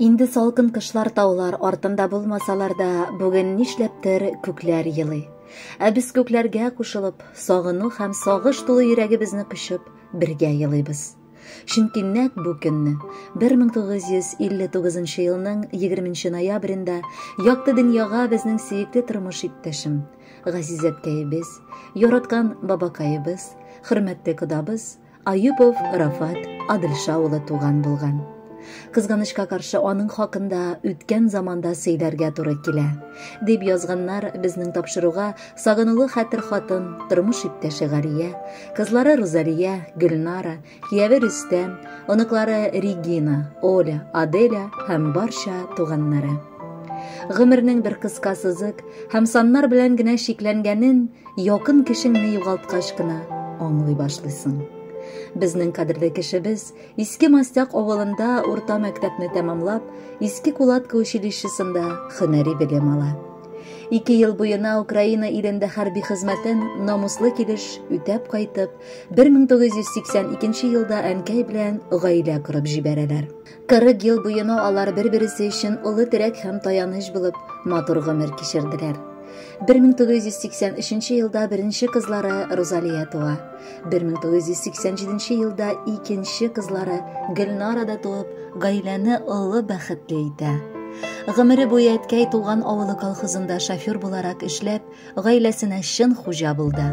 Инде салкын кышлар таулар артында булмасалар да, бүген нишләптер күкләр елый. Ә без күкләргә кушылып, сагыну һәм сагыш тулы йөрәгебезне кочып, бергә елыйбыз. Чөнки нәк бу көнне 1959 елның 20 ноябрендә якты дөньяга безнең сөекле тормыш иптәшем, газизәткәебез, яраткан бабакаебыз, хөрмәтле кодабыз Аюпов Рафат Адылша улы туган булган. Кызганычка каршы аның хакында үткән заманда сөйләргә туры килә. Дип язганнар безнең тапшыруга сагынулы хәтер хатын, тормыш иптәше Гария, кызлары Рузалия, Гөлнара, кияве Рөстәм, оныклары Регина, Оля, Аделя һәм барча туганнары. Гомернең бер кыска сызык һәм саннар белән генә чикләнгәнен Якын кешеңне югалткач кына аңлый башлыйсың. Безнең кадерле кешебез Иске Мастяк авылында урта мәктәпне тәмамлап, Иске Кулатка училищесында хөнәри белем ала. Ике ел буена Украина илендә хәрби хезмәтен намуслы килеш үтәп кайтып, 1982 елда әнкәй белән гаилә корып җибәрәләр. 40 ел буена алар бер-бересе өчен олы терәк һәм таяныч булып, матур гомер кичерделәр. 1983 елда беренче кызлары Розалия туа. 1987 елда икенче кызлары Гөлнара да туып, гаиләне олы бәхетле итә. Гомере буе әткәй туган авылы колхозында шофер буларак эшләп, Гаиләсенә чын хуҗа булды.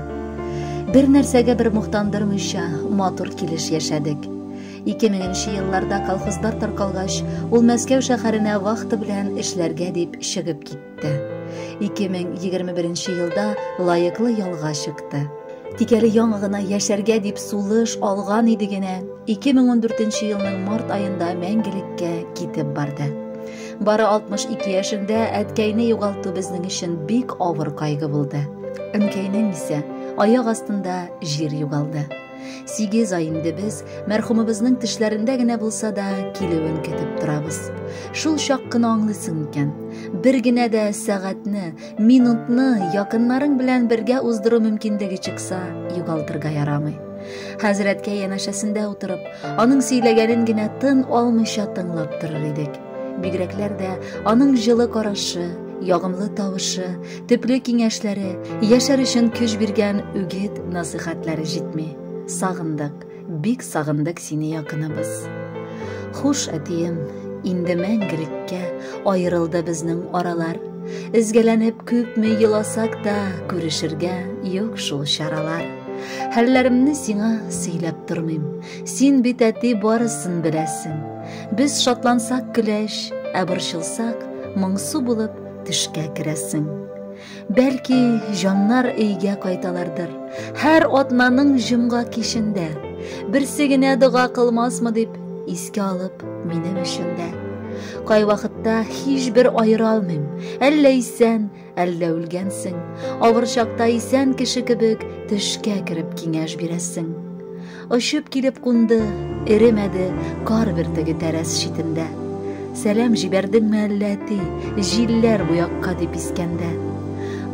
Бер нәрсәгә бер мохтандырмыйча, матур килеш яшәдек. 2000 нче елларда колхозлар таркалгач, ул Мәскәү шәһәренә вахта белән эшләргә дип чыгып китте. 2021 нче елда лаеклы ялга чыкты. Тик әле яңа гына яшәргә дип сулыш алган иде генә, 2014 елның март аенда мәңгелеккә китеп барды. Бары 62 яшендә әткәйне югалту безнең өчен бик авыр кайгы булды. Әнкәйнең исә аяк астында җир югалды. Сигез ай инде без мәрхүмебезнең тешләрендә генә булса да килүен көтеп торабыз. Шул чак кына аңлыйсың икән. Бер генә дә сәгатьне, минутны якыннарың белән бергә уздыру мөмкинлеге чыкса, югалтырга ярамый. Хәзрәткә янәшәсендә утырып, аның сөйләгәнен генә тын алмыйча тыңлап торыр идек. Бигрәкләр дә аның җылы карашы, ягымлы тавышы, төпле киңәшләре, яшәр өчен көч биргән үгет насыйхатлары җитми. Сагындык, бик сагындык сине якыныбыз. Хуш, әтием, инде мәңгелеккә аерылды безнең аралар. Эзгәләнеп күпме еласак та, күрешергә юк шул чаралар. Хәлләремне сиңа сөйләп тормыйм. Син бит әти барысын беләсең. Без шатлансак көләч, ә борчылсак, моңсу булып төшкә керәсең. Бәлки, җаннар өйгә кайталардыр. Һәр атнаның җомга кичендә берсе генә дога кылмасмы дип искә алып минем өчен дә. Кайвакытта һичбер аера алмыйм. Әллә исән, Әллә үлгәнсең, авыр чакта исән кеше кебек төшкә кереп киңәш бирәсең. Очып килеп кунды, эремәде, кар бөртеге тәрәз читендә. Сәлам җибәрдеңме әллә әти, җилләр бу якка дип искәндә.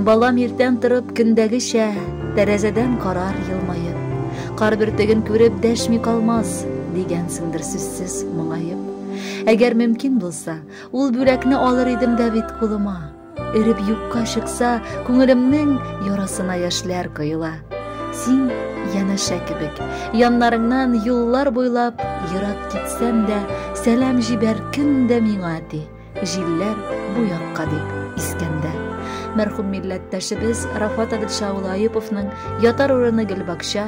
Балам иртән торып көндәгечә, тәрәзәдән карар елмаеп. Кар бөртеген күреп дәшми калмас, дигәнсеңдер сүзсез моңаеп. Әгәр мөмкин булса, ул бүләкне алыр идем дә бит кулыма. Эреп юкка чыкса, күңелемнең ярасына яшьләр коела. Син янәшә кебек, яннарыңнан юллар буйлап ерак китсәм дә, сәлам җибәр кем дә миңа ди. Җилләр бу якка дип искәндә. Мәрхүм милләттәшебез Рафат Адилша улы Аюповның ятар урыны Гөлбакча,